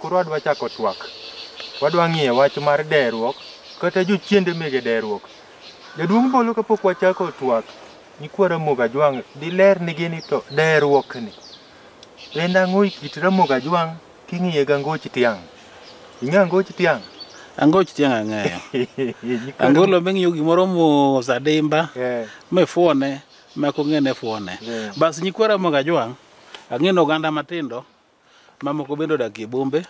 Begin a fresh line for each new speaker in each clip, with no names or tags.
Koro adwa chako twak. Wadwa ng'iye wach mar deruok kata jochiende mege deruok. Jaduong' Bolo kapok wachako twak, Nyikwa Ramogi Ajwang' diler nigi ni to deruok ni en ang'o e kit Ramogi Ajwang' king'iye gi Angoch Tiang'. Ing'eyo Angoch Tiang'? Angoch Tiang'
ang'eyo. Nyikwa Angolo ming'iyo gimoro mos adimba Eh, mifuone mak ong'e ne fuone. Yeah. Bas nyikwa Ramogi Ajwang' ang'e ni oganda matindo Mamoko bende odak e bombe,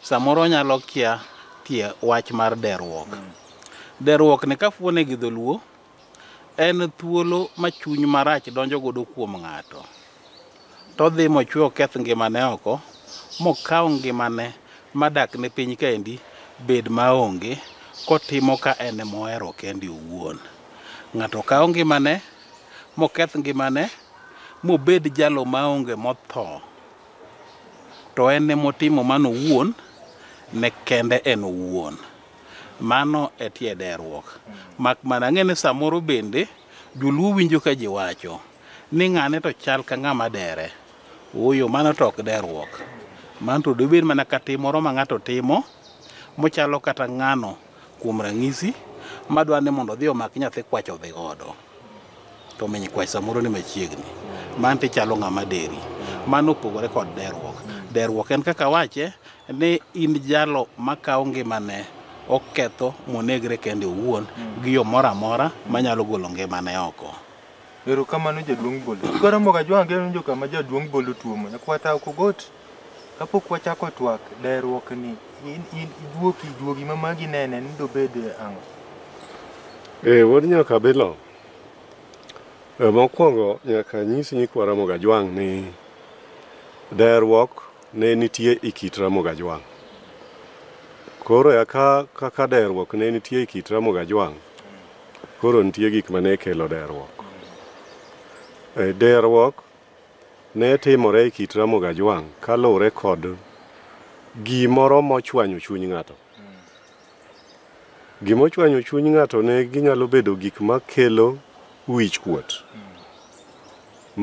samoro onyalo kia tie wach mar deruok. Deruok ni kafuone gi dholuo en thuolo ma chuny marach donjo godo kuom ng'ato. Todhi mochwe oketh ngimane oko, mokaw ngimane madak ne piny kaendi bed maonge kotimo ka en emohero kende owuon. Ng'ato kawo ngimane moketh ngimane mobed jalo maonge motho to en ne motimo mano owuon ne kende en owuon mano e tie derruok mak mana ng'e ni samoro bende joluo winjo ka ji wacho ni ng'ane to chal ka ng'ama dere oyo mano to ok derruok mano to dobed mana ka tim moro ma ng'ato timo mochalo kata ng'ano Kuom ranyisi, ma dwaro ni mondo odhi omak nyathi kwach odhi godo, to miny kwach samoro ni machiegni. Mano to ichalo ng'ama deri. Mano opogore kod derruok. Derruok en kaka wache ni in jalo makawo ngimane oketho monegre kende owuon gi yo moro amora manyalo golo ngimane oko. Erokamano
jaduong' Bolo. Koro moga jwang'e njo kama jaduong' Bolo tuomo. Nyakwata ok ogot. Kapok wachako twak deruok ni in in ijuoki juogi ma magi nene ni dobed ang'o? Ee, wuod nyaka bilo.
E, mokwongo nyaka nyis nyikwa Ramogi Ajwang' ni deruok ne nitie e kit Ramogi Ajwang'. Koro eka kaka deruok ne nitie e kit Ramogi Ajwang', koro nitie gik mane kelo deruok. E, deruok Ne timore e kit Ramogi Ajwang' kaluwore kod gimoro mochwanyo chuny ng'ato. Gima ochwanyo chuny ng'ato ne ginyalo bedo gik makelo wich kuot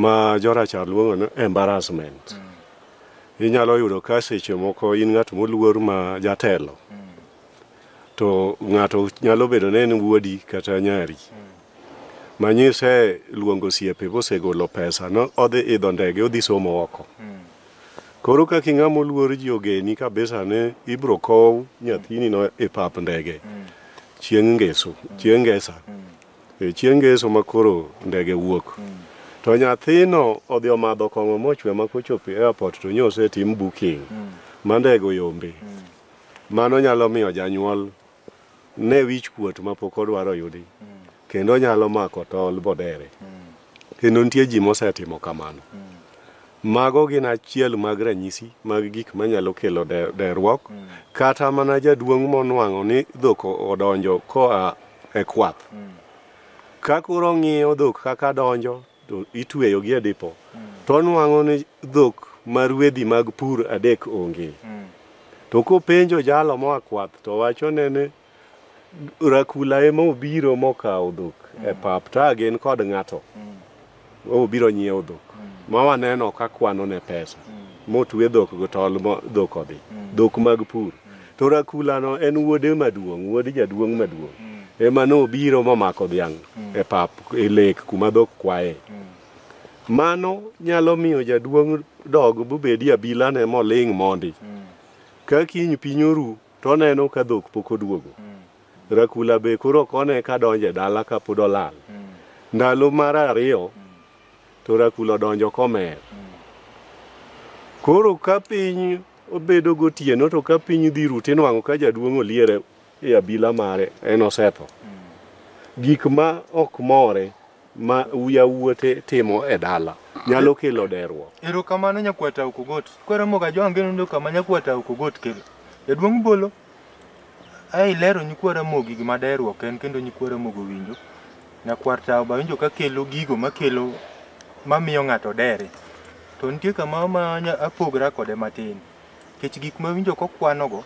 ma jorachar luongo ni embarrassment. Inyalo yudo ka seche moko in ng'at moluor ma jatelo, To ng'ato nyalo bedo ni en wuodi kata nyari ma nyise luongo osiepe mosegolo pesa no odhi idho ndege odhi somo oko. Koro kaka ing'ama oluor ji ogeni kabisa ni ibiro kow nyathini no e pap ndege chieng' ngeso, chieng' ngesa. E, Chieng' ngeso ma koro ndege wuok. To nyathino odhi omadho kong'o mochwe ma kochopo e airport to nyo osetim booking ma ndege oyombe. Mano nyalo miyo janyuol ne wich kuot ma pok odwaro yudi kendo nyalo mako tol bodere. Kendo nitie ji mosetimo kamano. Mago gin achiel mag ranyisi mag gik manyalo kelo de- derruok. Kata mana jaduong' monwang'o ni dhok odonjo koa e kwath. Ka koro ong'iyo dhok kaka donjo to itueyogi e dipo to onwang'o ni dhok ma ruedhi mag pur adek onge to kopenjo jalo moa kwath to wachone ni rakula ema obiro mokawo dhok e pap to a gin kod ng'ato obiro nyiewo dhok ma waneno ka kwano ne pesa motue dhok go tol mo dhok odhi dhok mag pur to rakulano en wuode maduong' wuod jaduong' maduong' ema nobiro momako dhiang' e pap e lek kuma dhok kwaye mano nyalo miyo jaduong' dog bobedi abilane moling' mondi ka kiny piny oru to oneno ka dhok pok oduogo rakula be koro ok one ka donjo e dala ka pod olal ndalo mar ariyo to rakula odonjo komer koro ka piny Obedo gotieno to ka piny dhi ru tinwang'o ka jaduong' oliere e abila mare en osetho. Gik ma ok more ma yawuote timo e dala nyalo kelo deruok. Erokamano nyakwata
Okogot. Kwaromoga jo Angeno ndoka ma nyakwata Okogot kelo. Jaduong' Bolo Ae ilero nyikwa Ramogi gima daher ok en kendo nyikwa Ramogi owinjo. Nyakwar Tao be awinjo ka kelo gigo makelo mamiyo ng'ato dere. To nitie kama ma anya- apogra kode matin. Nikech gik mawinjo kokwanogo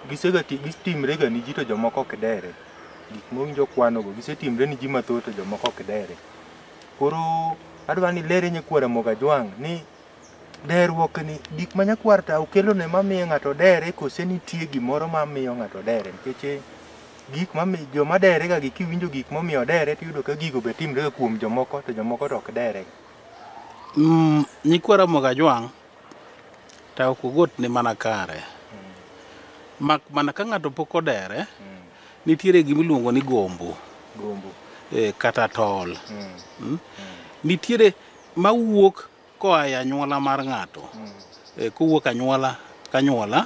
gisega ti- gitimrega ni ji to jomoko ok dere. Gik mowinjo okwanogo gisetimre ni ji mathoth to jomoko ok dere. Koro adwa ni ilere nyikwa Ramogi Ajwang' ni Deruok ni gik ma nyakwar ta okelo ne ma miyo ng'ato dere kose nitie gimoro ma miyo ng'ato dere nikech eh, gik ma mi- joma dere ga gi kiwinjo gik ma omiyo dere to iyudo ka gigo be timre ga kuom jomoko to jomoko to ok dere. Mm, nyikwa
Ramogi Ajwang' ta ok ogot ni mana kare. Mak mana ka ng'ato pok odere, Mm. nitiere gima iluongo ni gombo Gombo. eh, kata tol. Mm. Mm? Nitiere mawuok koa e anyuola mar ng'ato e, kowuok anyuola ka anyuola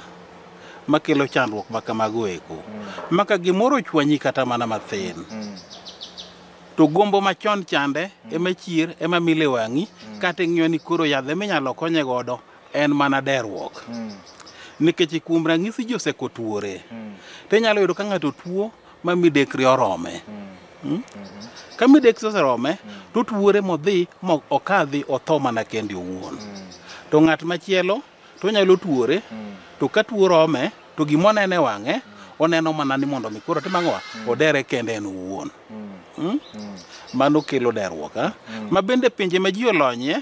makelo chandruok ma kamago eko maka gimoro ochwanyi kata mana mathin to gombo machon chande ema chier ema mile wang'i kata ing'iyo ni koro yadhe minyalo konye godo en mana derruok nikech kuom ranyisi ji osekotuore to inyalo yudo ka ng'ato tuo ma midekre orome hmm? ka midekre oserome to otuore modhi mo okadhi otho mana kende owuon to ng'at machielo to onyalo tuore to ka tuo rome to gima onene wang'e oneno mana ni mondo mi koro tim ang'owa odere kende en owuon Hmm? mano kelo derruok ha? ma bende pinje ma ji olonyie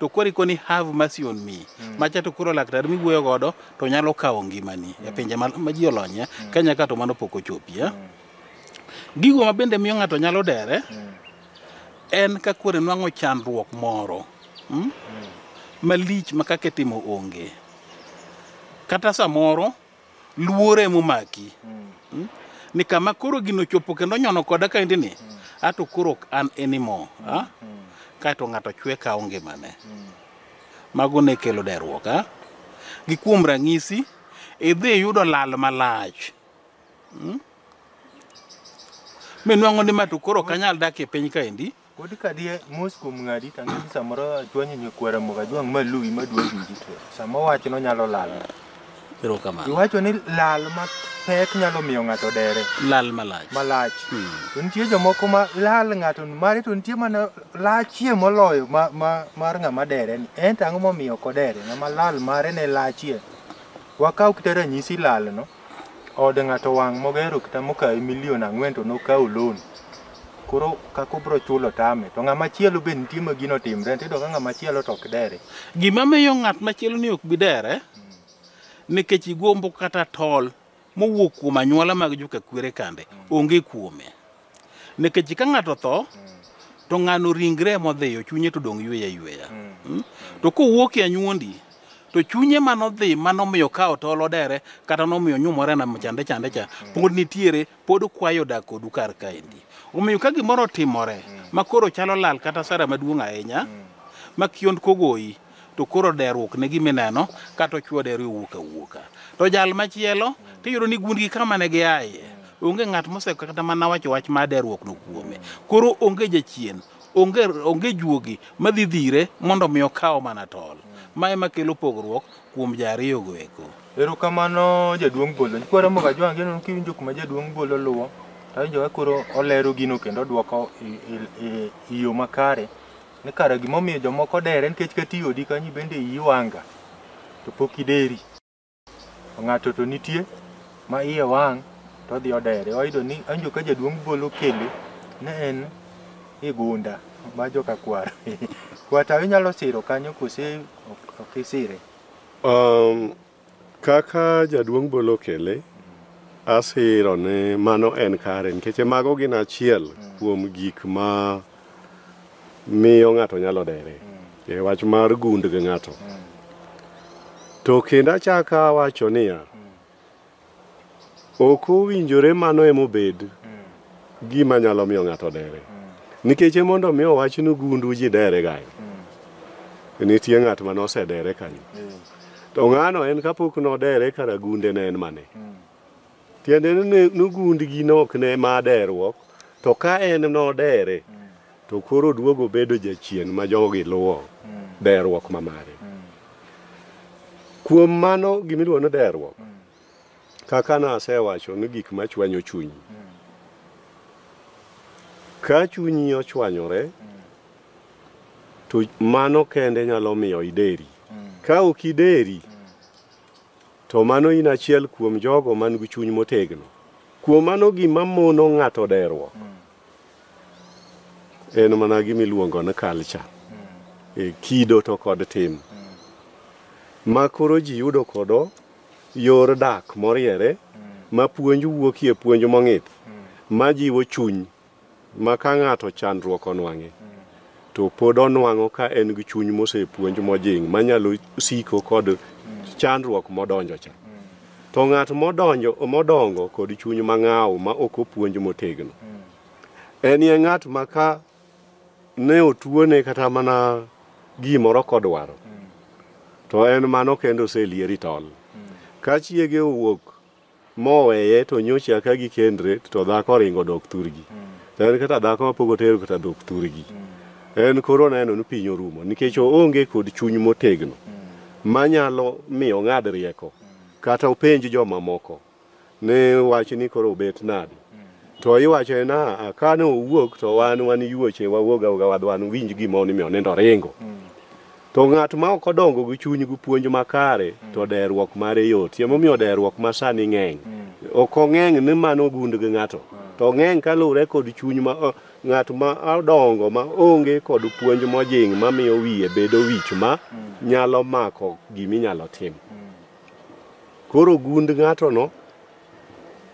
to koro ikoni have mercy on me mm. macha to koro laktar miwuoyo godo to nyalo kawo ngimani mm. e pinje ma, ma ji olonye mm. kenya ka to mano pok ochopie mm. gigo ma bende miyo ng'ato nyalo dere mm. en ka koro enwang'o chandruok moro mm? Mm. malich ma kaka itimo onge kata samoro luoro ema omaki Mm. ni kama koro gino chopo kendo nyono koda kaendi ni ato koro ok an anymore ah? kaeto ng'ato chwe kawo ngimane mago ne kelo derruok ah? gi kuom ranyisi idhi iyudo lal malach Mm? minwang'o ni ma to koro ok anyal dak e piny kaendi Kodi kadie
mos kuom ng'adi to ang'e ni samoro achwanyo nyakwara moga jwang' ma luwi ma dwa winji to sama owacho nonyalo lal. Erokamano.
Iwacho ni lal
ma pek nyalo miyo ng'ato dere Lal malach.
malach. Hmm. To nitie
jomoko ma lal ng'ato mare to nitie mana lachie moloyo ma, ma, mar ng'ama dere ni. En to ang'o momiyo ok odere? Ng'ama lal mare ne lachie. Wakaw kite ranyisi lalno. Ode ng'ato wang' mogero kata mokawe milion ang'wen to nokawo loan. Koro kaka obro chulo tame. To ng'ama chielo be nitie ma gino timre, tiyudo ka ng'ama chielo to ok dere. Gima miyo ng'at
machielo ni ok bi dere, nikech igombo kata tol mowuok kuom anyuola mag joka kwere kande, onge kuome. Nikech ka ng'ato tho, to ng'ano ringre modhiyo, chunye to dong' yweyo ayweya. Mm. To kowuok e anyuondi, to chunye manodhi manomiyo ka otol odere kata nomiyo nyumore na chande chande cha pod nitiere pod kwayo dak kodu kar kaendi omiyo ka gimoro otimore makoro chalo lal kata sara maduong' ahinya ma kiond kogoyi to koro deruok ne gima ineno kata ochwo deru owuok awuoka to jal machielo tiyudo ni gund gi kama ne giaye onge ng'at moseko kata mana wacho wach ma deruok no kuome koro onge jachien onge onge juogi madhi dhire mondo omi okaw mana tol ma ema kelo pogruok kuom ji ariyogo eko Erokamano
jaduong' Bolo. Kwara moga jwang' geno kiwinjo kuma jaduong' Bolo luwo. Awinjo ka koro olero gino kendo odwoko i- i- i- i yo makare. Ni kare gimomiyo jomoko dere nikech kata i odi kanyo bende iyi wanga to pok ideri. To Ng'ato to nitie ma iye wang' to odhi odere. Wayudo ni anjo ka jaduong' bolo kele ne en e gunda ma joka kwar. Kwata inyalo siro kanyo kose ok isire? Um,
Kaka jaduong' bolo kele, asiro ni mano en kare nikech mago gin achiel kuom gik ma miyo ng'ato nyalo dere e wach mar gund gi ng'ato. To kendo achaka wacho niya, Ok owinjore mano ema obed gima nyalo miyo ng'ato dere. Nikech e mondo mi owach ni gundu ji dere gayo. Nitie ng'at ma nosedere kanyo. To ng'ano en kapok nodere kara gunde ne en mane. Tiende ni ne- nogundgi ne ok ne ma deruok, to ka en nodere To koro oduogo obedo jachien ma jogi luwo derruok ma mare. Kuom mano gimiluongo ni derruok, kaka nasewacho ni gik ma chwanyo chuny. Ka chunyi ochwanyore, to mano kende nyalo miyo ideri. Ka ok ideri, to mano in achiel kuom jogo man gi chuny motegno. Kuom mano gima mono ng'ato derruok en mana gima iluongo ni culture e kido to kod tim ma koro ji yudo kodo yor dak moriere ma puonj wuokie puonj mong'ith ma jiwo chuny ma ka ng'ato chandruok onwang'e to pod onwang'o ka en gi chuny mosepuonj mojing' manyalo siko kod chandruok modonjo cha. To ng'at modonjo modongo kod chuny mang'aw ma ok opuonj motegno, en ye ng'at ma ka ne otuone kata mana gimoro kodwaro, to en mano kendo oselieri tol. Ka chiege owuok moweye to nyocha aka gikendre to dhako oringo dok thurgi to en kata dhako mapok otero kata dok thurgi en koro oneno ni piny orumo nikech oonge kod chuny motegno manyalo miyo ong'ad rieko kata openj jomamoko ni wach ni koro obet nade To iwacho na ah, ka ne owuok to wan wan yuoche wawuog auga wadh wan winj gima onimi onindo ringo. To ng'at ma ok odongo gi chuny gi puonj makare to derruok mare yot. Yemo miyo derruok ma sani ng'eny. Ok ong'eng ni mano ogund gi ng'ato. To ong'eng kaluwre kod chuny ma o- ng'at ma odongo ma onge kod puonj mojing ma miyo wiye bedo wich ma nyalo mako gima inyalo tim. Koro gund ng'atono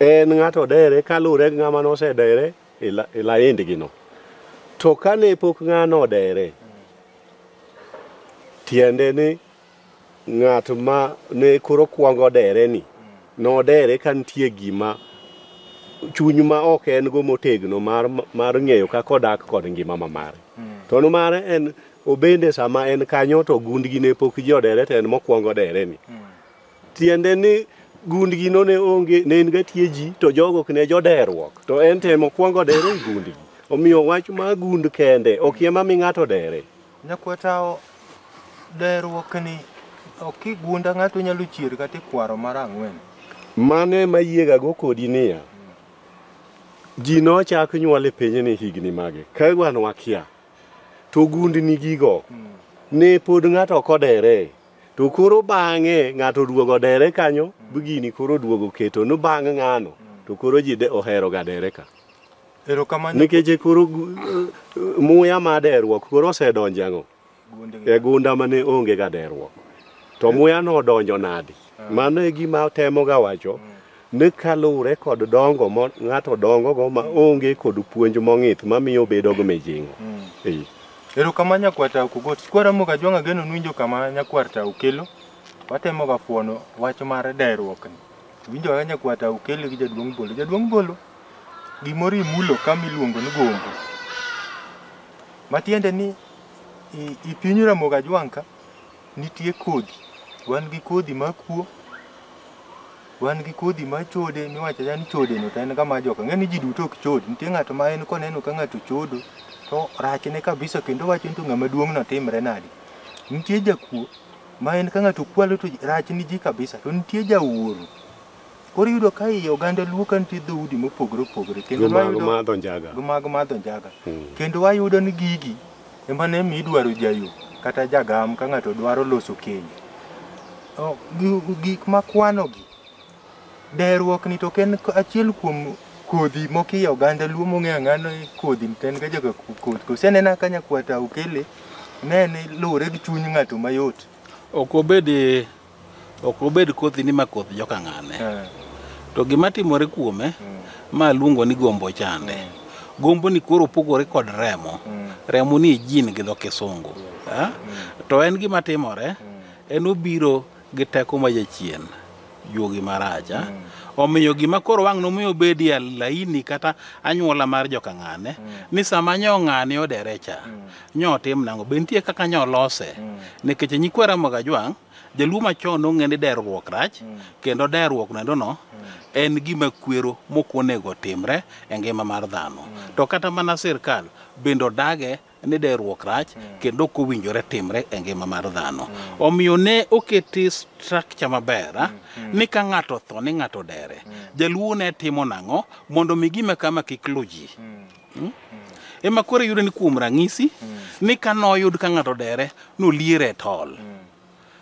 en ng'ato dere kaluwre gi ng'ama nosedere e la- e laindgino to kane pok ng'ano odere tiende ni ng'at ma ne koro kwongo dere ni nodere ka nitie gima chuny ma ok en go motegno mar, mar ng'eyo kaka odak kod ngima ma mare to no mare en obende sama en kanyo to gundgi ne pok ji odere to en mokwongo dere ni Tiende ni gundgi no ne onge ne en gatie ji to jogo ok ne joderruok to en temo kwongo dere e gundgi omiyo wach ma gund kende ok yema mi ng'ato dere nyakwatawo
derruok ni ok kigunda ng'ato nyalo chier kata ikwaro mar ang'wen mano ema
yiegago kodi niya ji nochak nyuol e pinyni higni mage ka wan wakia to gundni gigo ne pod ng'ato ok odere to koro bang'e ng'ato oduogo dere kanyo gini koro oduogo keto ni bang' ng'ano to koro ji de- ohero ga dere ka Erokamano. nikech koro gu- eh, muya ma derruok koro osedonjo ang'o e gunda mane onge ga derruok to muya no odonjo nadi mano e gima atemoga wacho ni kaluwre kod dongo ma ng'ato dongogo ma onge kod puonj mong'ith mamiyo obedo gi mijing'o Ee.
Ero kama nyakwar tao kugot. Sikwara moga jwang'a geno nwinjo kama nyakwar tao kelo. Watemo ga fuono wach mar dairuok ni. Winjo ga nyakwar tao kelo gi jaduong' bolo. Jaduong' bolo gimoro imulo kama iluongo ni gombo. Matiende ni i, i piny Ramoga Jwang'ka nitie kodhi. Wan gi kodhi makuo Wan gi kodhi mar chode miwacho acha ni chodeno to en ga mar joka. Ing'e ni ji duto ok chod. Nitie ng'ato ma en koneno ka ng'ato chodo to rachne kabisa kendo wacho ni to ng'ama duong'no timre nadi. Nitie jakuo ma en ka ng'ato kwalo to rachne ji kabisa to nitie jaoro. Koro iyudo ka i oganda Luo ka nitie dhoudi mopogore opogore kendo Jomago wayudo madho njaga.
mago madho njaga Mm.
kendo wayudo ni gigi ema ne mi idwaro jayo kata jagam ka ng'ato dwaro loso keny. O, gi- Gik makwanogi, deruokni to ok en k- achiel kuom kodhi mokiyo oganda luo mong'eyo ang'ano ni kodhi to en ga jaga ku- kodhi. Kosenena ka nyakwata okele, ne en luwore gi chuny ng'ato mayot. Ok obed
ok obed kothi ni ma koth joka ng'ane eh. to gima timore kuome mm. ma luongo ni gombo chande mm. gombo ni koro opogore kod remo mm. remo ni jin gi dho kisungu eh? to en gima timore en obiro gi teko ma jachien juogi marach eh? omiyo gima koro wang' nomiyo obedi laini kata anyuola mar joka ng'ane ni sama nyo ng'ane odere cha nyo tim nango be nitie kaka nyo lose mm. nikech e nyikwa ramoga jwang jaluo machon nong'e ni derruok rach mm. kendo derruok nendo no mm. en gima kwero mokonego timre e ngima mar dhano mm. to kata mana sirkal bende odage ni derruok rach mm. kendo ok owinjore timre e ngima mar dhano mm. omiyo ne oketi structure maber ah, mm. mm. ni ka ng'ato tho ni ng'ato dere mm. jaluo ne timo nang'o mondo mi gima kama kik lu ji mm. Hmm? ema koro yudo ni kuom rang'isi hmm. ni ka noyud ka ng'ato dere noliere e tol hmm.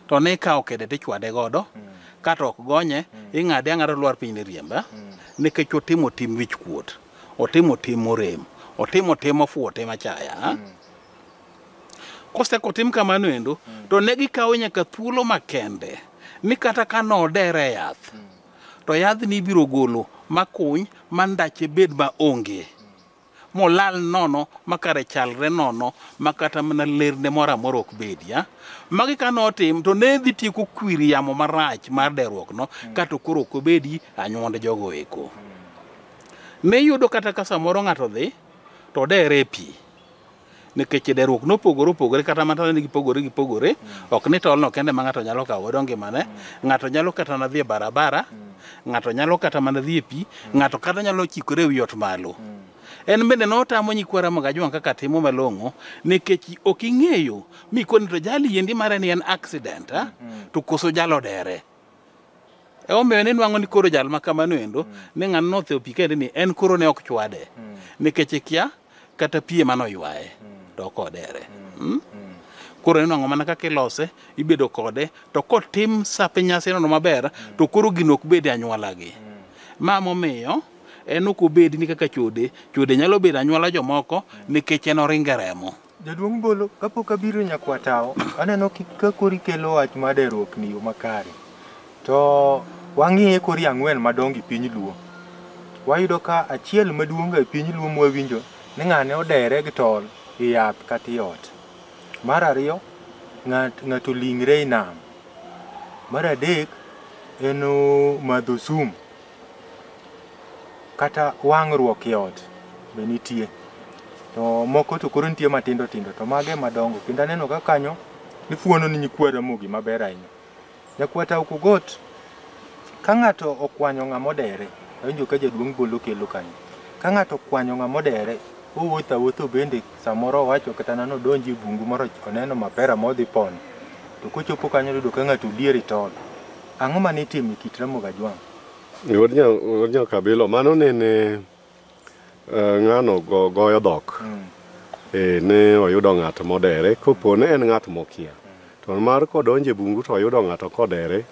to ne ikawo kede to ichwade godo kata ok gonye ing'ade ang'ada lwar piny ne riemba nikech otimo tim wich kuot otimo tim morem otimo tim ofuwo tim achaya koseko tim kamano endo to ne gikawo nyaka thuolo makende ni kata ka nodere yath to yadhni ibiro golo makuny ma ndache bed ma onge molal nono makare chalre nono ma kata mana lerne moro amora ok bedi ya magi ka notim to ne dhi tieko kwir yamo marach mar deruokno kato koro ok obedi anyuond jogo eko ne yudo kata ka samoro ng'ato dhi to dere e pi nikech deruok nopogore opogore kata mana ni gipogore gipogore ok ni tolno kende ma ng'ato nyalo kawo godo ngimane ng'ato nyalo kata mana dhi e barabara ng'ato nyalo kata mana dhi e pi ng'ato kata nyalo chikore e wi ot malo en bende notamo nyikwara magajuang kaka timo malong'o nikech ok ing'eyo mikoni to jali yendi mare ni en accident a, to koso jalo dere e omiyo ni nwang'o ni koro jal ma kamano endo mm. ne ng'ano nothe opi kende ni en koro ne ok chwade mm. nikech ikia e kata pie mano ywaye mm. to ok odere hmm? koro inwang'o mana kaka ilose ibedo kode to kotim sape nyasi nono maber to koro gino ok bed e anywolagi ma momiyo en ok obedi ni kaka chode chode nyalo bedo anywola jomoko nikech en oringe remo Jaduong' Bolo,
kapok abiro nyakwatawo, aneno ka kori kelo wach ma deruok ni yo makare. To wang'iye kori ang'wen madongo e piny Luo. Wayudo ka achiel maduong' e piny Luo mwawinjo ni ng'ane odere gi tol e yath kata e ot. Mar ariyo, ng'ato ling're e nam. Mar adek, en madho sum. kata wang'ruok e ot be nitie to moko to koro nitie matindo tindo to mage madongo kendo aneno ka kanyo ifuono ni nyikwa Ramogi maber ahinya. Nyakwa Tau Kugot ka ng'ato okwanyo ng'ama odere awinjo ka jaduong' bolo kelo kanyo ka ng'ato okwanyo ng'ama odere owuotho awuotho bende samoro owacho kata nano odonji e bungu moro oneno mapera modhi pono to kochopo kanyo oyudo ka ng'ato odier e tol Ang'o ma nitimo e kit Ramogi Ajwang'? Wuod nya
wuod nya kabilo mano ne ne eh, ng'ano go, goyo dhok Mm. eh, ne oyudo ng'at modere kopo ne en ng'at mokia to mar kodonje bungu to oyudo ng'ato kodere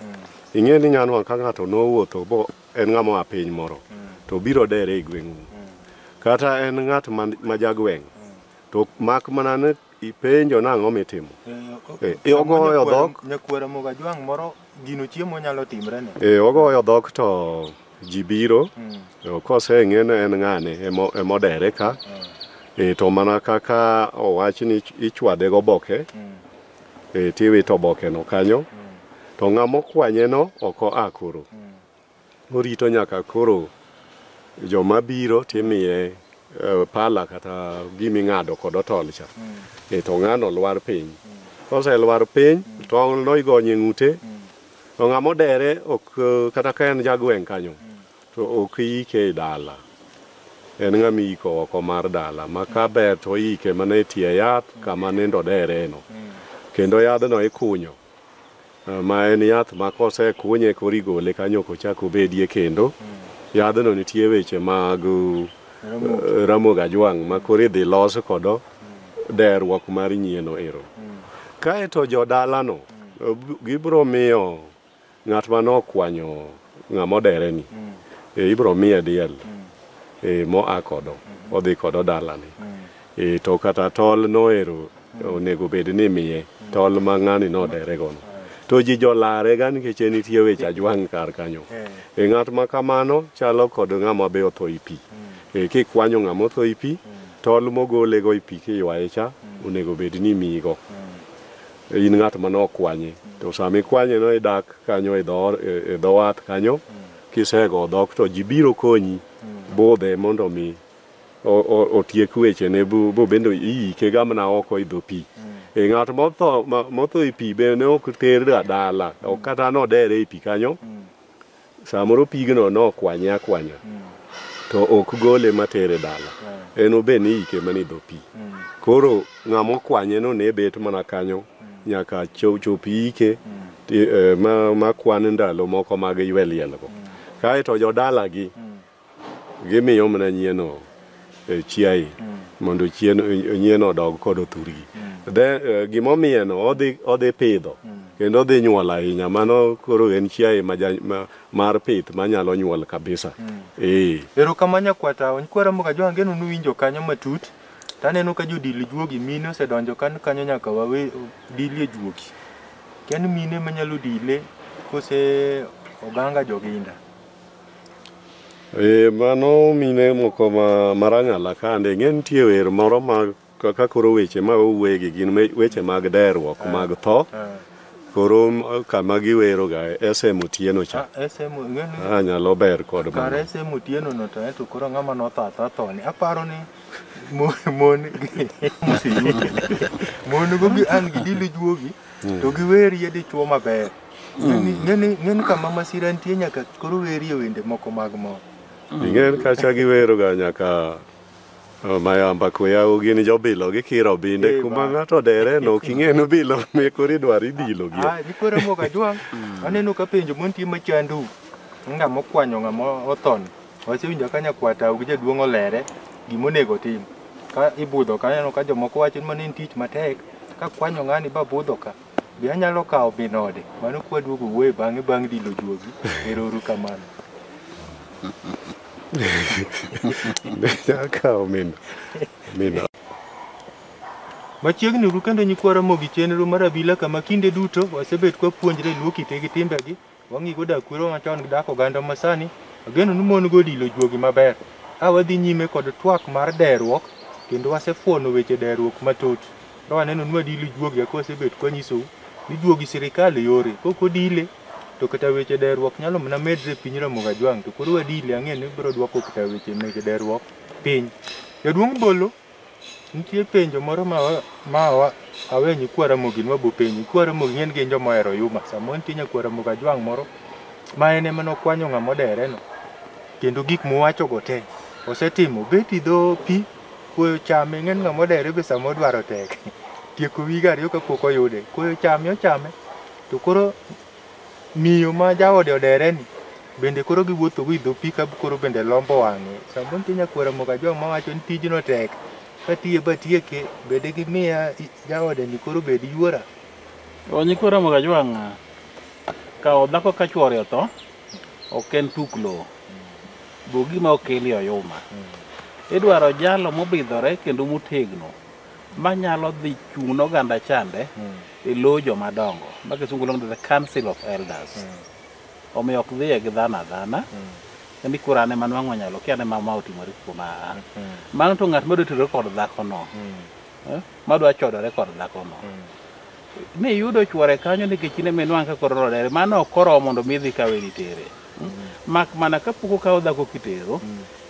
ing'e ni nyano ka ng'ato nowuotho bo en ng'ama oa piny moro to biro dere e gweng'u kata en ng'at ma, ma jagweng' to mak mana ni Ipenjo nang'o mitimo? Eh, eh, ogoyo dhok. Nyakwera moga jwang'
moro gino chiemo nyalo timre ne. Eh, ogoyo dhok to
ji biro. Mm. Eh, kose ng'e ni en ng'ane emodere ka. Mm. Eh, to mana kaka owach ni ichwade go boke. Mm. Eh, tiwito boke no kanyo. Mm. To ng'amo kwanye no oko akoro. Mm. Orito nyaka koro joma biro timiye eh, pala kata giming'ado kod otol cha e to ng'ano lwar piny koselwar piny tong'no igonye ng'ute to ng'ama odere ok eh, kata ka en jagweng' kanyo to ok iyike e dala en ng'ama iyiko oko mar dala ma ka ber to iyike mana e tie yath kama nindo dereno kendo yadhno ikunyo Ma en yath ma kosekunye koro igole kanyo ok ochak obedie kendo. Yadhno nitie weche mag eh, Ramogi Ajwang' ma koro idhi los kodo derruok mar nyieno ero. Kaeto jodalano eh, b- gibiro miyo ng'at ma nokwanyo ng'ama odereni eh, ibiro miye diel eh, moa kodo odhi kodo dalane. E, to kata tol noero onego bed ni miye tol ma ng'ani nodere gono to ji jolare ga nikech en nitie weche ajwang' kar kanyo e ng'at ma kamano chalo kod ng'ama be otho i pi e kikwanyo ng'ama otho i pi tol mogole go i pi kiywaye cha onego bed ni imiyigo in ng'at ma nokwanye to sama ikwanye no idak kanyo e dho e dho wath kanyo kisego dhok to ji biro konyi budhe mondo mi otiek wechene bo bende iyike gamna oko e dho pi e ng'at motho motho e pi be ne ok terga dala ok kata nodere e pi kanyo samoro pigno nokwanye akwanya to ok gole matere dala en obe ni iyike mana e dho pi koro ng'ama okwanye no ne bet mana kanyo nyaka chop iyike e, ma kwan ndalo moko mag ywe lielgo kaeto jodalagi Gimiyo mana nyieno eh, chiaye mm. mondo chien eh, nyieno odog kod othurgi mm. then eh, gima omiyeno odhi odhi pidho mm. kendo odhi nyuol ahinya mano koro en chiaye ma, ma, mar pith manyalo nyuol kabisa mm.
eh erokamano nyakwata nkwara mboga
jo
angeno nuwinjo kanyo matut taneno ka jodil juogi mine osedonjo kan kanyo nyaka wawe dilie juogi ken mine manyalo dile kose oganga joginda Eh,
mano mine moko ma marang'ala kande ing'e nitie wer moro ma ka ka koro weche ma owegi gin me- weche mag derruok mag tho koro m- kama giweroga SM Otieno cha SM ing'eni Ah,
nyalo ber
kod kar mano SM Otieno
no to ento koro ng'ama notho atha thoni aparo ni mo- mon gi moseyudo mon go gi an gi dili juogi to giwerie dichuo maber Ng'eni ng'eni kama masira nitie nyaka koro werie wende moko mag mor. Ing'en kacha
giweroga nyaka oh, mayamba kweyago gin jobilo gikiro binde Eh, kuma ba. ng'ato dere no ok ing'e nobilo mekoro idwaro idilo gi Ah, nikoro mo ka jwang.
Aneno ka penjo mon tie machandu. Nga mokwanyo nga mo othon. Wasewinjo ka nyakwata gi jaduong' olere gima onego tim. Ka ibudho ka aneno ka jomoko wacho ni mano en tich matek. Ka kwanyo ng'ani ba budho ka. Be anyalo kawo bin ode? Mano kwa duogo wuoye bang'e bang' dilo juogi. Ero uru kamano.
Be anyalo kawo min min ode?
Machiegni uru kendo nyikwa Ramogi chenro mar abila kama kinde duto wasebet kwapuonjre Luo kite gi timbegi Wang'i koda kwero machon dak oganda masani, ageno ni mon godilo juogi maber. Ka wadhi nyime kod twak mar deruok, kendo wasefuono weche deruok matut. Ka waneno ni wadilo juogi kaka wasebet kwanyisou, ni juogi sirikal yore. Kok odile, to kata weche deruok nyalo mana medre e piny Ramogi Ajwang'. To koro wadile ang'e ni biro dwoko kata weche mege deruok piny. Jaduong' Bolo, Nitie penjo moro ma ma wa- awe ni kwa Ramogi nwa bopenji. Kwa Ramogi ng'en gin joma ohero yuma. Samoro nitie nya kwa Ramogi Ajwang' moro ma en ema nokwanyo ng'ama odere no. Kendo gik muwacho go te osetimo. Bet idho pi koyo chame ng'en ng'ama odere be samoro dwaro tek. Tieko wige ariyo kapok oyude. Koyo chame ochame to koro Miyo ma jaode odere ni bende koro giwuotho go idho pi ka koro bende lombo wang'e. Samoro nitie nyakwar moko ajong' ma wacho ni tijno tek. Katiye batieke, be digimiya jaode ni koro bed yuora? O nyikwa
Ramogi Ajwang', kawo dhako ka chwore otho ok en tuk lowo. Be gima okeli oyuma. Idwaro jalo mobidhore kendo motegno. manyalo dhi chung' ne oganda chande e lo jomadongo ma kisungu luongo ni the council of elders omiyo ok dhiye gi dhano adhana ni koro an ema nwang'o nyalo kia ne ma ma otimore kuom aa mano to ng'at madwa terore kod dhakono eh, madwa chodore kod dhakono ni yudo chwore kanyo nikech in ema inwang' ka koro rodere mano ok oromo mondo mi idhi kawe nitere mak mana kapok okawo dhako kitero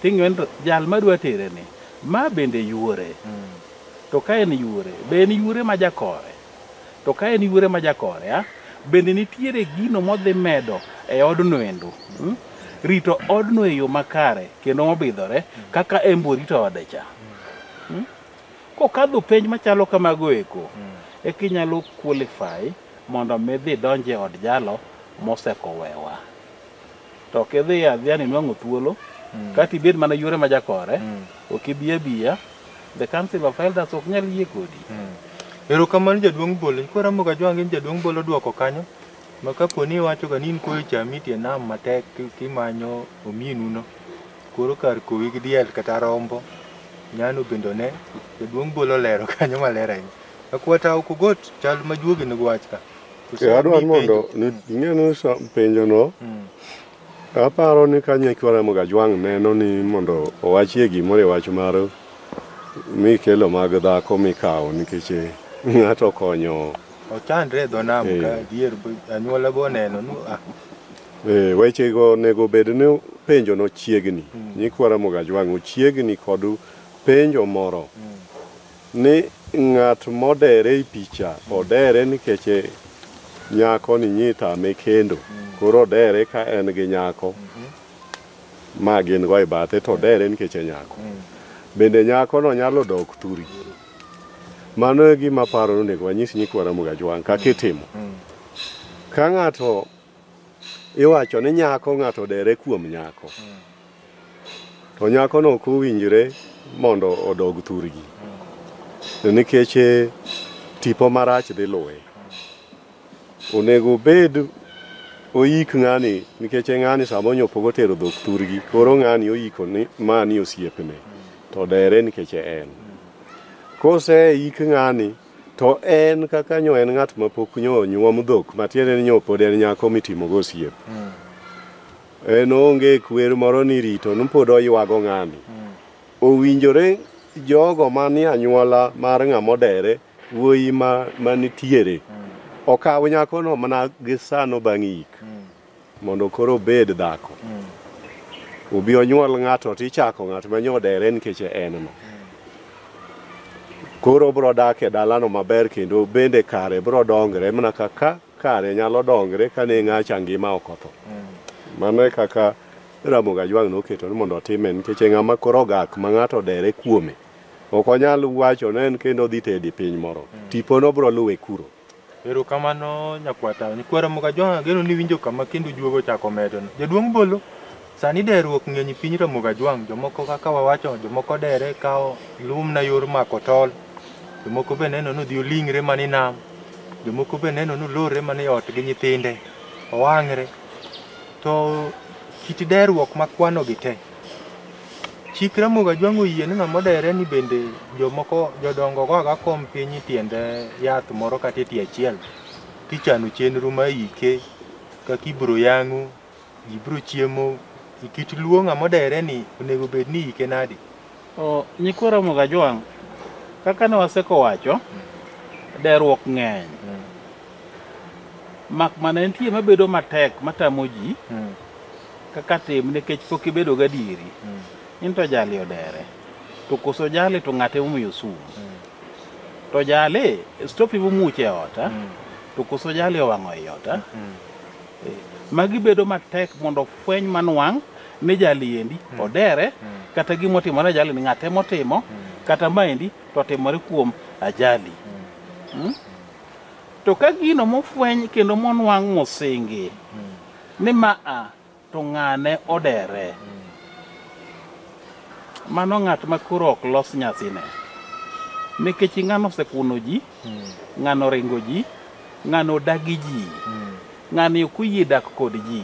ting'eyo ni to jal madwa tere ni Ma bende yuore. To ka en yuore, be en yuore ma jakore? To ka en yuore ma jakore, a, bende nitiere gino modhi medo e odno endo? Mm? Rito odno e yo makare kendo mobidhore kaka embo orito ode cha. Mm? Kokadho penj machalo kamago eko, eka inyalo qualify mondo midhi donje od jalo mosekowewa. to ok idhi adhiya ni nwang'o thuolo kata ibed mana yuore ma jakore ok ibi abiya the council of elders ok nyal yie kodi Erokamano
jaduong' Bolo. Koro amoga jwang' in jaduong' Bolo dwoko kanyo. Ma kapo ni iwacho ga ni in koyo chami tie nam matek ki- kimanyo ominu no. Koro kar kowi gi diel kata rombo. Nyano bendo ne jaduong' Bolo lero kanyo maler ahinya. Akwata ok ugot chal ma juogi ne gwach ka. Kosemiyi adwaro ni mondo
penjo. ni- ing'e ni sa- penjono Mm. aparo ni ka nyekwa Ramogi Ajwang' neno ni mondo owachie gimoro e wach mar mikelo mag dhako mikawo nikech eh, ng'ato okonyo ochandre e dho
nam Eh. ka dier anyuola go oneno ni ah, Eh,
wechego onego bed ni penjono chiegni nyikwa Ramogi Ajwang' ochiegni kod penjo moro Ni ng'at modere ei picha odere nikech nyako ni nyi tame kendo. Koro odere ka en gi nyako ma gin go e bathe to odere nikech e nyako. Bende nyako no nyalo dok thuri. Mano e gima aparo ni onego wanyis nyikwa Ramogi Ajwang' kaka itimo. Ka ng'ato iwacho ni nyako ng'ato dere kuom nyako to nyakono ok owinjre mondo odog thurgi nikech eh, tipo marach dhi luwe onego obed oyik ng'ani nikech e ng'ani sama onyopogo otero dhok thurgi koro ng'ani oyiko ni mani osiepne to dere nikech en kose yik ng'ani To en kaka nyo en ng'at mapok nyo onyuom dhok, matiende ni nyo pod en nyako mitimogo osiep. En onge kwer moro ni rito ni pod oywago ng'ani. Owinjore jogo manie anyuola mar ng'ama odere, wuoyi ma manitiere, okaw nyakono mana gi sano bang' yik. mondo koro obed dhako obi onyuol ng'ato to ichako ng'at ma nyodere nikech en no koro obro dak e dalano maber kendo bende kare bro dongre mana kaka kare nyalo dongre ka ne ng'acha ngima ok otho mano e kaka Ramogi Ajwang' noketo ni mondo otime nikech e ng'ama koro ogak ma ng'ato odere kuome ok onyal wacho ni en kendo odhi tedi piny moro tipono bro luwe kuro Erokamano
nyakwata. Nyikwa Ramoga Jwang' ageno ni winjo kama kendo juogo ochako medo. Jaduong' Bolo, sani deruok ng'eny piny Ramoga Jwang'. Jomoko kaka wawacho, jomoko dere kawo lumna yor mako tol. Jomoko be neno ni odhi oling're mana e nam. Jomoko be neno ni olorre mana e ot gi nyithinde, owang're. To kit deruok makwanogi te, Chik Ramogi Ajwang' oyie ni ng'ama odere ni bende jomoko jodongo goga kom piny tiend yath moro kata e tie achiel kichano chenro ma ike kaka ibiro yang'o, ji biro chiemo. E kit luo ng'ama odere ni onego bed ni ike nadi? O, nyikwa
Ramogi Ajwang', kaka ne waseko wacho, deruok ng'eny. Mak mana nitie mabedo matek matamo ji Mm. kaka tim nikech pok ibedo gadieri mm. in to jali odere to koso jali to ng'ate omiyo sum mm. to jali stop ibu muche e ota mm. to koso jali owang'o i e ota mm. e, magi bedo matek mondo fweny manwang' ni jali endi mm. odere mm. kata gima otimore jali ni ng'ate motimo mm. kata maendi to otimore kuom ajali mm. mm. to ka gino mofweny kendo monwang' mosingi mm. Ni ma a to ng'ane odere. Mano ng'at ma koro ok los nyasine. Nikech ng'ano osekuno ji, ng'ano oringo ji, ng'ano odagi ji, ng'ani ok oyie dak kod ji.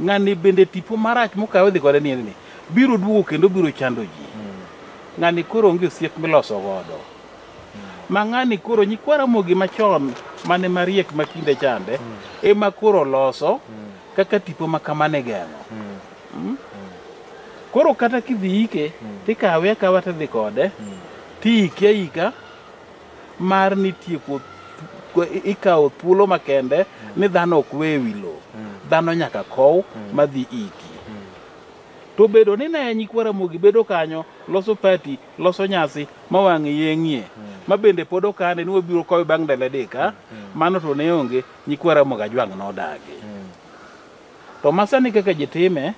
Ng'ani bende tipo marach mokawe odhi kode ni en ni biro duogo kendo biro chando ji. Ng'ani koro onge osiep miloso godo. ma ng'ani koro nyikwa Ramogi machon mane mariek ma kinde chande ema koro loso kaka tipo ma kamane geng'o Mm. koro kata kidhi ike tikawe akawa tidhi kode tiike aika mar ni tieko th- ikawo thuolo makende ni dhano ok we wi lowo dhano nyaka kow madhi iki to bedo ni ne nyikwa Ramogi bedo kanyo loso pati loso nyasi ma wang'e yeng'ie ma bende pod okane ni wabiro kowe bang' ndalo adek a mano to ne onge nyikwa ramogi ajwang' nodagi to masani kaka ji time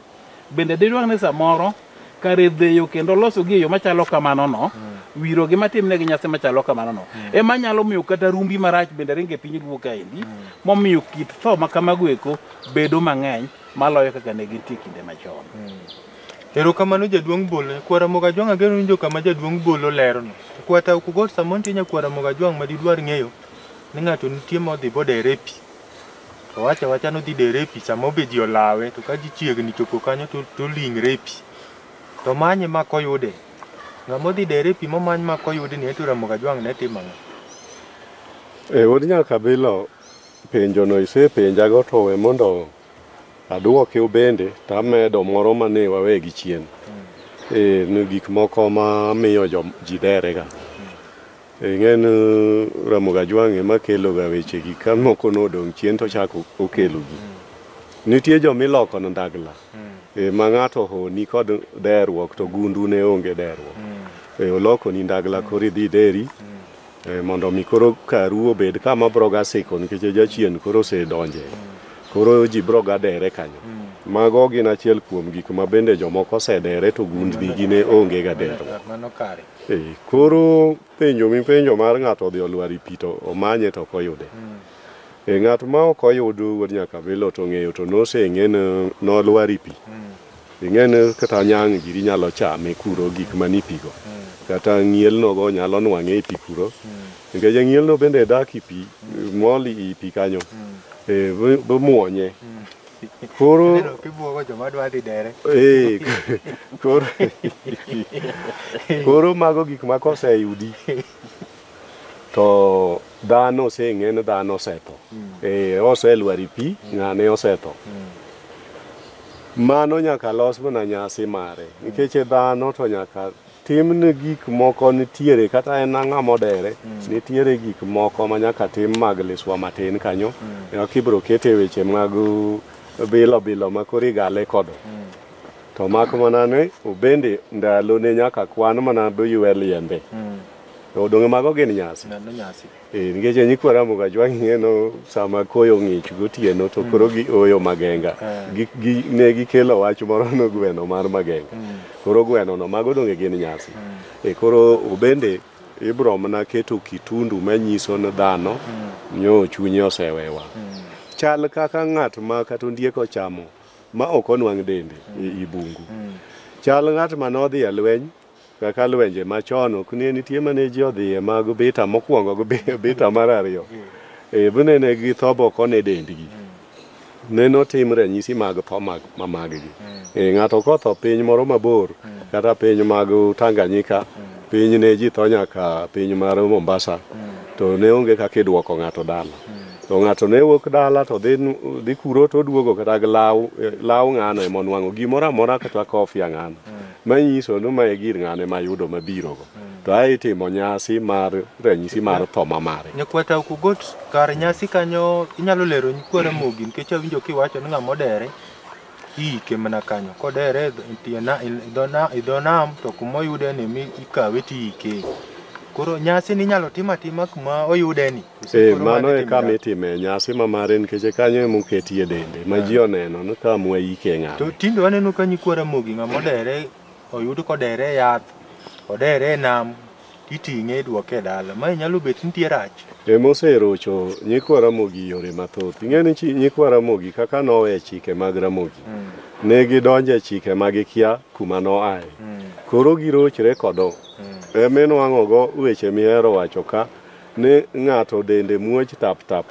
bende didwang' ni samoro kare dheyo kendo loso gi e yo machalo kamano no wiro gi matimne gi nyasi machalo kamano no ema nyalo miyo kata rumbi marach bende ringe piny luo kaendi momiyo kit tho ma kamago eko bedo mang'eny maloyo kaka ne gintie kinde machon Erokamano
jaduong' Bolo. Kwa Ramogi Ajwang' ageno winjo kama jaduong' Bolo lerono. Kwa Tau Kugot samoro nitie nya kwa Ramogi Ajwang' ma didwar ng'eyo ni ng'ato nitie modhi bodere e pi. To owacho awacha ni odhi dere e pi samoro be ji olawe to ka ji chiegni chopo kanyo to toling're e pi. To manye ma koyude. Ng'ama odhi dere e pi momany ma koyude ni to Ramogi Ajwang' ne timo ang'o? E od Nyakabilo
penjono isepenjago to we mondo Aduoke ubende to amedo moro ma ne wawegi chien. Eh, ni gik moko ma miyo jo- ji derega. Eh, Ing'e ni Ramogi Ajwang' ema keloga wechegi ka moko nodong' chien to ochako okelogi. Nitie joma iloko na ndagla eh, ma ng'ato honi kod derruok to gundu ne onge derruok. Eh, Olokoni ndagla koro idhi ideri Eh, mondo mi koro karu obed kama bro ga siko nikech jachien koro osedonje koro ji bro ga dere kanyo hmm. mago gin achiel kuom gik ma bende jomoko osedere to gundni gi ne onge ga dero eh,
koro
penjo mipenjo mar ng'ato odhi olwari pi to omanye to ok oyude hmm. eh, ng'at ma ok oyud wuod nyaka bilo to ng'eyo to noseng'e nolwari pi hmm. ing'eni kata nyang' giri nyalo chame kuro gik man e pigo kata ng'ielnogo nyalo nwang'e e pi kuro nikech ng'ielno bende dak e pi mol i pi kanyo Eh, bo- bomuonye koro Neno kibuogo joma
dwa dhi dere. eh, koro
koro mago gik ma koseyudi to dhano oseng'e ni dhano osetho ee oselwar i pi ng'ane osetho mano nyaka los mana nyasi mare nikech e dhano to nyaka timne gik moko nitiere kata en ang'a modere nitiere gik moko ma nyaka tim mag liswa matin kanyo eka kibro kete weche mag uh, bilo bilo ma koro igale kodo to mak mana ni obende ndalone nyaka kwan mana doywe liende To odonge mago gin nyasi. Neno nyasi. Eh, nikech e nyikwa Ramoga jwang'iyeno sama koyo ng'ich gotieno to koro gioyo magenga. Eh. Gi- gi- Ne gikelo wach moro no gweno mar magenga. Koro gwenono mago donge gin nyasi. E koro bende ibro mana keto kitundu manyiso ni dhano nyo chunye osewewa. Chal kaka ng'at ma kata ondiek ochamo ma ok onwang' dende i i bungu. Chal ng'at ma nodhi e lweny kaka lwenje machon ok ne nitie mane ji odhiye mag bita mokwongo gi bi- bita mar ariyo e bune ne gi tho boko ne dendgi ne notim ranyisi mag tho mag ma maggi e ng'ato kotho piny moro mabor kata piny mag Tanganyika piny ne ji tho nyaka piny mar Mombasa to ne onge kaka idwoko ng'ato dala to ng'ato ne wuok dala to dhi dhi kuro to oduogo kata gi law law ng'ano ema onwang'o gimoro amora kata kofia ng'ano manyiso ni mae gir ng'ane mayudo mabirogo mm. to ae itimo nyasi mar ranyisi mar tho ma mare nyakwata ok ugot
kar nyasi kanyo inyalo lero nyikwa ramogi nikech awinjo kiwacho ni ng'ama odere iike mana kanyo kodere e dho nam to kuma oyude ni mi ikawe tiike koro nyasi ni inyalo tim atima kuma oyude ni Ee, mano e kama
itime nyasi ma mare nikech e kanyo ema oketie dende ma ji oneno ni ka mwa yike ng'ato. To tinde waneno ka nyikwa
Ramogi ng'ama odere oyud kodere e yath, odere e nam, iting'e idwoke e dala. Mae nyalo bet nitie rach. E moserocho
nyikwa Ramogi yore mathoth. Ing'e ni chi- nyikwa Ramogi kaka nowe chike mag Ramogi ne gidonjo e chike ma gikia kuma noaye. Koro girochre kodo. Ema inwang'ogo weche mihero wacho ka ni ng'ato dende muoch tap tap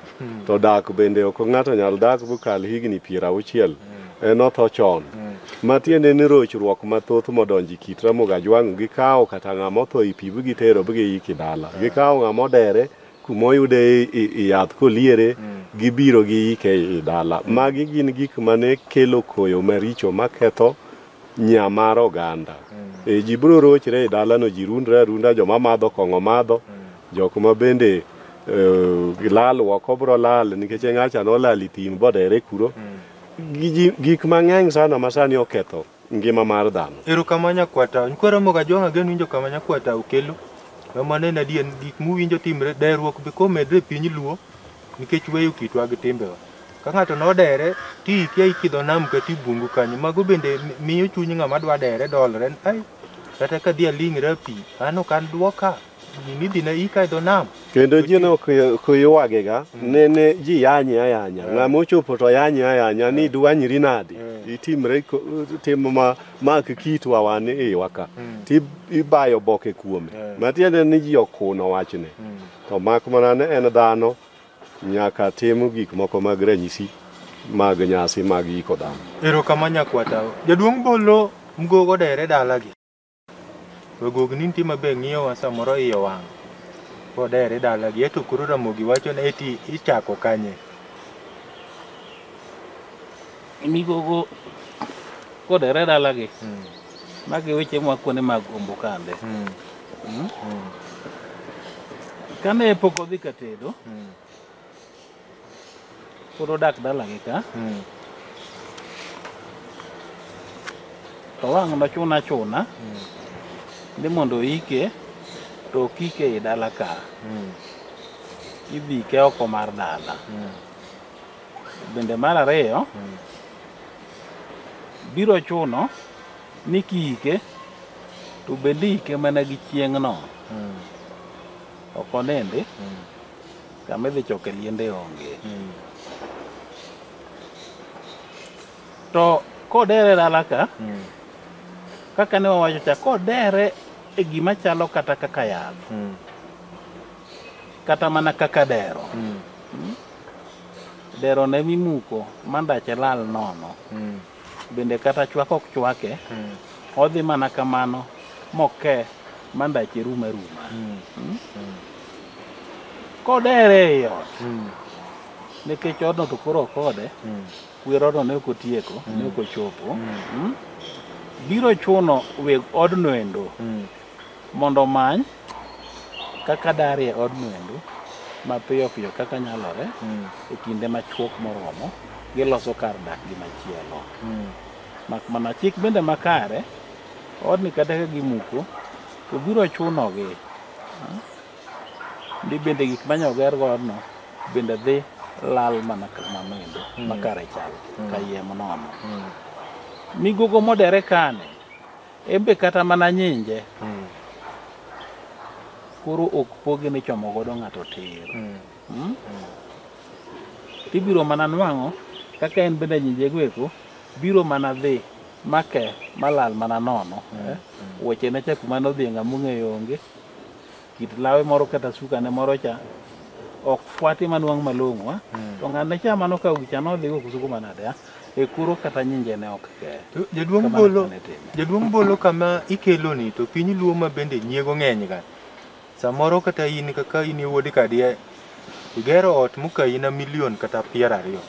to dak bende ok ng'ato nyal dak bokal higni piero auchiel en otho chon ma tiende ni rochruok mathoth modonjo e kit Ramogi Ajwang' gikawo kata ng'ama otho i pi bigitero bigiyiki dala gikawo ng'ama odere kuma oyude i- i- i yath koliere gibiro giyike i dala magi gin gik mane kelo koyo maricho maketho nya mar oganda e ji biro rochre e dalano ji rundre arunda joma madho kong'o madho jok ma bende eh, lal woko biro lal nikech ng'acha nolal i thim bodere kuro Gi- ji- gik mang'eny sana ma sani oketho ngima mar dhano Erokamano nyakwata.
Nkwero moga jwang'a genu winjo kama nyakwata okelo. Mama nena dien gik muwinjo timre, dayruok be komedre e piny Luo. nikech weyo kitwa gi timbewa. Ka ng'ato nodere, ti ikia ikidho nam kata i bungu kanyo. Mago bende mi- miyo chuny ng'ama dwa dere dolre ni, ai, kata ka dhi aling're e pi, an ok an dwoka, gini idhi na ika e dho nam. Kendo ji ne ok
ok ywagega, ne ne ji yanye ayanya. Ng'ama ochopo to yanye ayanya ni dwanyri nadi. Itimre ko- timo ma mak kitwa wan iwa ka. Ti ibayo boke kuome. Matiende ni ji okuno wachne. To mak mana ne en dhano nyaka tim gik moko mag ranyisi mag nyasi mag yiko dhano. Erokamano nyakwata.
Jaduong' Bolo mgogo dere dalagi. Wegog ni nitie mabe ng'iyowa samoro iye owang'. Odere dalagi. Eto koro Ramogi wacho ni eti ichako kanye.
Migogo kodere dalagi. Magi weche mwa kuonde mag Ombokande. Kane pok odhi ka tedo, pod odak dalagi ka, to wang' nochuna chuna ni mondo oike, to ok ike ei dala ka. Idhi ike oko mar dala. Bende mar ariyo, biro chuno ni kiike to bende iike mana gi chieng'no ok onindi kama idhi choke liende onge to kodere dala ka kaka ne wawacho cha kodere e gima chalo kata kaka yath kata mana kaka dero dero ne mimuko mandache lal nono bende kata chwak ok chwake odhi mana kamano moke ma ndache rum aruma kodere ei ot nikech odno to koro ok ode wer odno ne ok otieko ne ok ochopo Mm. biro chuno weg odno endo mondo omany kaka dar e od mwendu mapiyo piyo kaka nyalore mm. e kinde machuok moromo giloso kar dak gi machielo mm. mak mana chik bende makare odni kata ka gimuko to biro chunogi hmm? ndi bende gik manyoger godno bende dhi lal mana kamamendo mm. makare chal mm. kayiem nono mm. migogo modere kane En be kata mana nyinje Mm. koro ok pogi ni chomo godo ng'ato tir. Mm. Mm? Tibiro mana nwang'o kaka en bende nyinjego eko biro mana dhi make malal mana nono. eh? Weche ne cha kuma nodhi ng'ama ong'eyo onge. kit lawe moro kata sukane moro cha ok fwati manwang' malong'o a to ng'ane cha mano ka wicha nodhigo kusuko manade a e kuro kata nyinjene ok kee To Jaduong' Kamano Bolo, kane timo.
Jaduong' Bolo kama ikeloni to piny Luo ma bende nyiego ng'eny ga. Samoro kata in kaka in e wuod Kadia, igero ot mokayi na milion kata piero ariyo.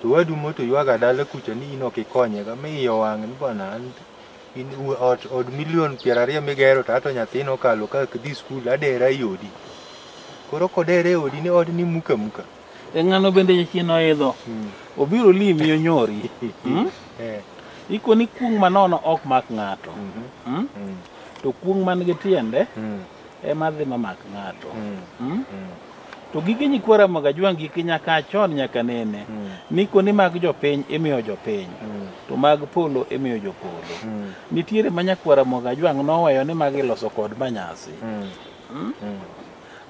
To wadu moto ywaga dala kucha ni in ok ikonye ga, mi iye owang' ni bwana an in u- ot od milion piero ariyo migero to ato nyathino okalo ka dhi skul adera i odi koro kodere e odi ni odi ni muka muka e ng'ano
bende jachien oidho Mm. obiro limi onyori Mm? Eh, iko ni kuong' manono ok mak ng'ato mhm, Mm? mm, to kuong' man gi tiende mm. ema dhi mamak ng'ato Mm? to gige nyikwa ramoga jwang' gik nyaka a chon nyaka nene ni kuonde mag jopiny imiyo jopiny to mag polo imiyo jopolo nitiere ma nyakwa ramoga jwang' noweyo ni mag iloso kod manyasi Mm?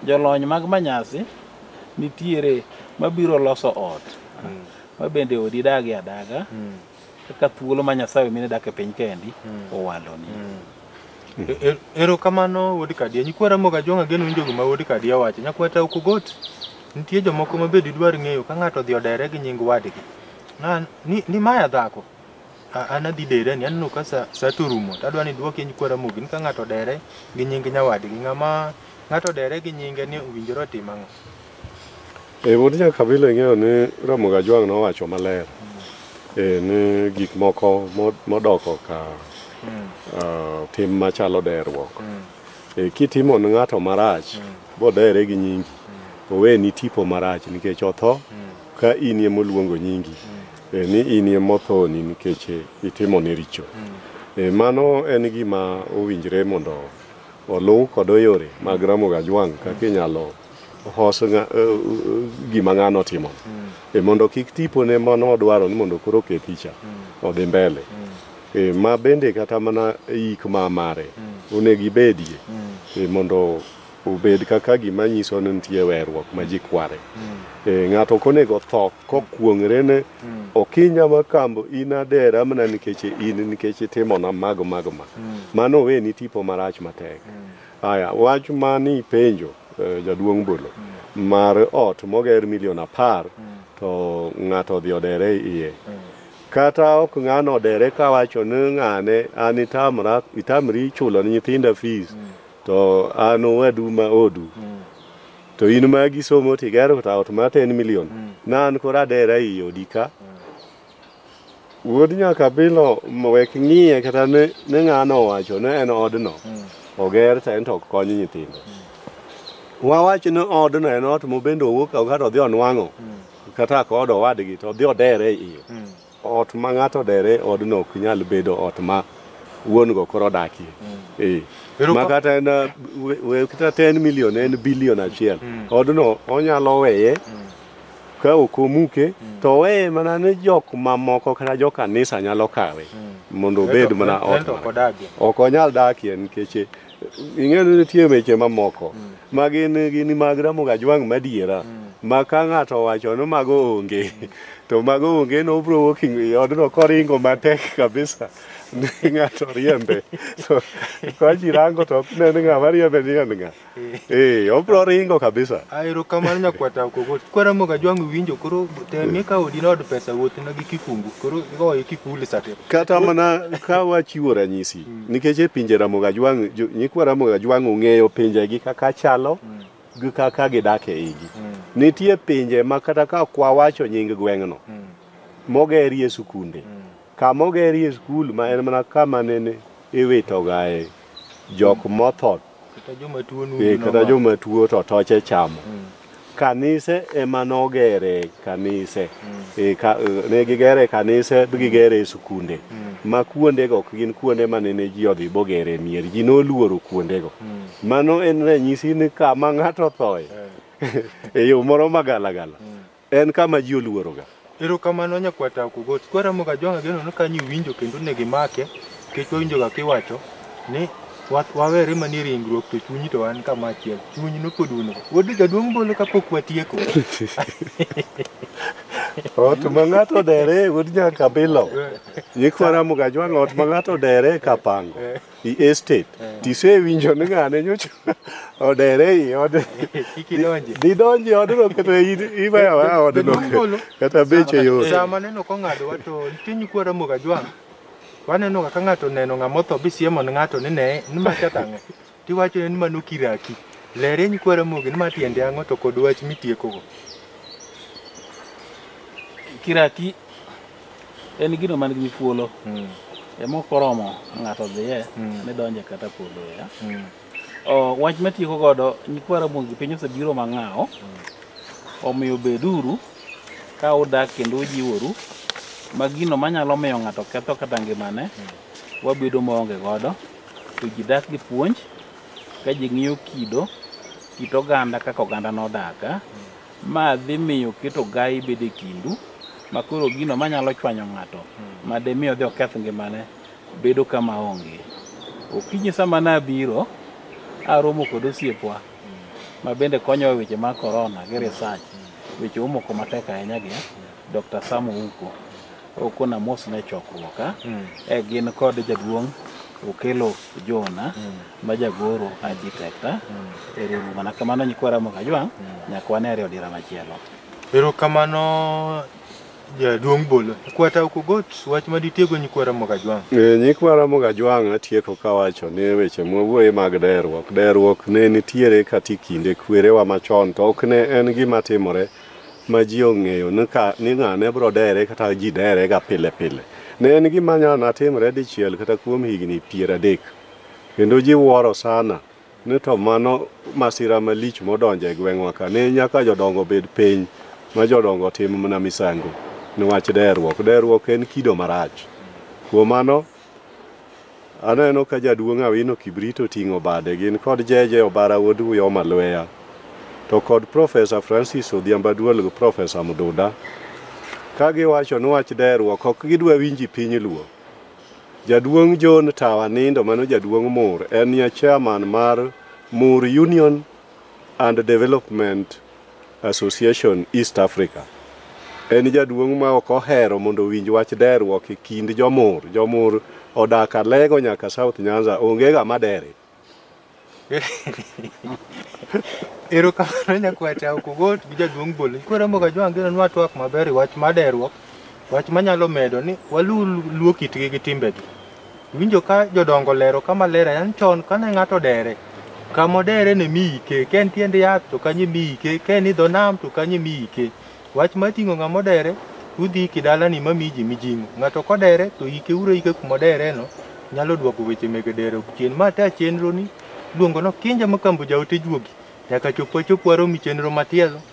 jolony mag manyasi nitiere mabiro loso ot ma bende odi dagi adaga kaka thuolo ma Nyasaye mine dak e piny kendi owaloni.
E- e- Erokamano wuod Kadia. Nyikwa Ramogi Ajwang' ageno winjo gima wuod Kadia wacho. Nyakwa Tauku Got, nitie jomoko ma be didwar ng'eyo ka ng'ato odhi odere gi nying wadgi. Na, ni, ni maya dhako. A- An adhi dere ni aneno ka sa, sa to rumo. To adwa ni dwokie nyikwa Ramogi ni ka ng'ato odere gi nying nyawadgi. Ng'ama ng'ato odere gi nyinge ni owinjore otim ang'o? E
wuod Jakabila ing'eyo ni Ramogi Ajwang' nowacho maler e, ni gik moko mo- modoko ka ah, tim machalo derruok. E, kitimo ne ng'ato marach bodere gi nyingi oweni tipo marach nikech otho ka in ema oluongo nyingi e, ni in ema othoni nikech e, itimo ne richo. E, mano en gima owinjre mondo oluw kod yore mag Ramogi Ajwang' kaka inyalo hos nga- eh, eh, gima ng'ano otimo e mondo kik tipone mano odwaro ni mondo koro oke picha odhi mbele e, ma bende kata mana yik ma mare onego ibedie e, mondo obed kaka gima nyiso ni nitie werruok ma ji kware e, ng'ato ok onego tho kokuong're ne okinya ma kambo in adera mana nikech in nikech itimona mago mago ma mano oweni tipo marach matek Aya, wach mani penjo eh, jaduong' bolo mar ot moger milion apar to ng'ato odhi odere iye kata ok ng'ano odere kawacho ni ng'ane an itamra itamri chulo ni nyithinda fees to an owadu ma odu to in magi somo tigero ta ot ma ten milion na an koro adera iye odika Wuod nyakabilo wek ng'iye kata ne ng'ano owacho ne en odno hmm. oger to en to ok kony nyithindo. Hmm. Wawach ni odno en ot mobende owuok kata odhi onwang'o hmm. kata ka od owadgi to odhi odere iyo. Ot ma ng'ato odere odno ok nyal bedo ot ma wuon go koro odakie. Eh. Ma kata en kata 10 million en billion achiel. Odno onyalo weye. ka ok omuke to oweye mana ni jok mamoko kata jo kanisa nyalo kawe mondo obed mana ot Ento ok mare. odagie. ok onyal dakie nikech eh, ing'eyo ni nitie weche mamoko ma gin gin mag Ramogi Ajwang' madiera ma ka ng'ato owacho ni mago onge to mago onge no obro wuok i odno koringo matek kabisa ni ng'ato riembe to ka ji rango to ok ne ni ng'ama riembe ni en ng'a Eh, obro ringo kabisa. Aero kamano nyakwata
okogol. Kwara moga jwangu winjo koro temie ka odi nod pesa wuoth na gi kifungu. Koro igoye kifuli sate. Kata mana
ka wachiwo ranyisi nikech e pinje Ramoga Jwang' jo- nyikwa Ramoga Jwang' ong'eyo pinjegi kaka chalo gi kaka gidak e igi. Nitie pinje ma kata ka kwa wacho nying gweng'no mogerie sikunde. Kama ogerie skul ma en mana kama nene iwitogae jok motho Kata joma tuo nundu Eh, kata nomako. joma tuo to toche chamo Mm. kanise ema nogere kanise Eh, ka- eh, ne gigere kanise bi gigere e sikunde ma kuondego ok gin kuonde ma nene ji odhi bogere mier ji noluoro kuondego mano en ranyisi ni kama ng'ato thoye e yo moro magalagala En kama ji oluoroga. Erokamano nyakwata
Okogoti. Kwaramoga Jwang' ageno ni kanyo iwinjo kendo onego imake nikech wawinjoga kiwacho ni wa- wawere manie ringruok to chunyi to wan kama achiel. Chuny nopod un go. Wuod jaduong' bolo kapok watieko.
Ot ma ng'ato odere wuod nyaka bilo. Nyikwara Mugajwang' ot ma ng'ato odere kapango. i estate tisewinjo ni ng'ane nyocha odere i od Kik idonje. didonji odno kata i- iweyo awaya odno Ngolo. kata beche yot Saa maneno kong'adowa
to nitie nyikwa Ramogi Ajwang'. Waneno kaka ng'ato oneno ng'ama otho bisiemo ne ng'ato ni ne ni ma kata ang'o. Tiwacho ni ma nokiraki. Lere nyikwa Ramogi ni ma tiende ang'o to kod wach mitiekogo.
Kiraki en gino man gi thuolo mm. emok oromo ng'ato dhiye mm. ne donje kata podho ya mm. oh, wach matieko godo nyikwa ramogi piny osebiro mang'awo omiyo beduru ka udak kendo ujiworu ma gino manyalo miyo ng'ato ketho kata ngimane wabedo maonge godo to ji dak gi puonj ka ji ng'iyo kido kit oganda kaka oganda nodaga ma dhi miyo keto gai bedo e kindu ma koro gino manyalo chwanyo ng'ato ma demi odhi oketh ngimane bedo kama onge. Okinyi sama nabiro, aromo kod osiepwa ma bende konyowa e weche mag korona gi research, weche omoko matek ahinya gi Dr. Sam Ouko. okona mos ne chokruok a e gin kod jaduong' okelo jona ma jagoro architect a e riwruok mana kamano nyikwa ramo kajwang' nyakwane ariyo dira machielo Erokamano
jaduong' bolo. Kwata ok ogot wach ma ditiego nyikwa Ramo Kajwang'. Eh, Nyikwa Ramo
Kajwang' atieko kawacho ni weche mwawuoye mag deruok. Deruok ne nitiere kati kinde kwerewa machon to ok ne en gima timore ma ji ong'eyo ni ka- ni ng'ane bro dere kata ji dere ga pile pile ne en gima nyalo na timre dichiel kata kuom higni piero adek kendo ji wuoro sana ni to mano masira malich modonjo e gweng'wa ka ne nyaka jodongo bed piny ma jodongo tim mana misango niwach derruok derruok en kido marach kuom mano Aneno ka jaduong' Awino Kibrit oting'o bade gin kod Jeje Obara wuod Uyoma Lweya to kod Profesa Francis Odhiambo Aduol gi Profesa Mduda ka giwacho ni wach deruok ok gidwa winji piny Luo. Jaduong' John Tawa Nindo mano jaduong' Mur enie Chairman mar Mur Union and Development Association East Africa. En jaduong' ma ok ohero mondo owinj wach deruok e kind jomur. Jomur odak Alego nyaka South Nyanza, onge ga madere.
Erokamano nyakwacha ok ogot gi jaduong' bolo. Koro moga jwangino nwa twak maber e wach maderuok. Wach manyalo medo ni waluw luo kitgi gi timbegi. Winjo ka jodongo lero kama ler ahinya ni chon kane ng'ato dere, kama odere ne mi ike, ka en tiend yath to kanyo imi ike, ka en idho nam to kanyo imi ike. Wach mar ting'o ng'ama odere to udhi iki dalani ma miyi ji mijing'o. Ng'ato kodere to ike uru aika kuma odereno nyalo duoko weche mege dere chien. Ma ta chenroni iluongo ni Okinja Makambo Jaote Juogi nyaka chop wachop warom i chenro matielo.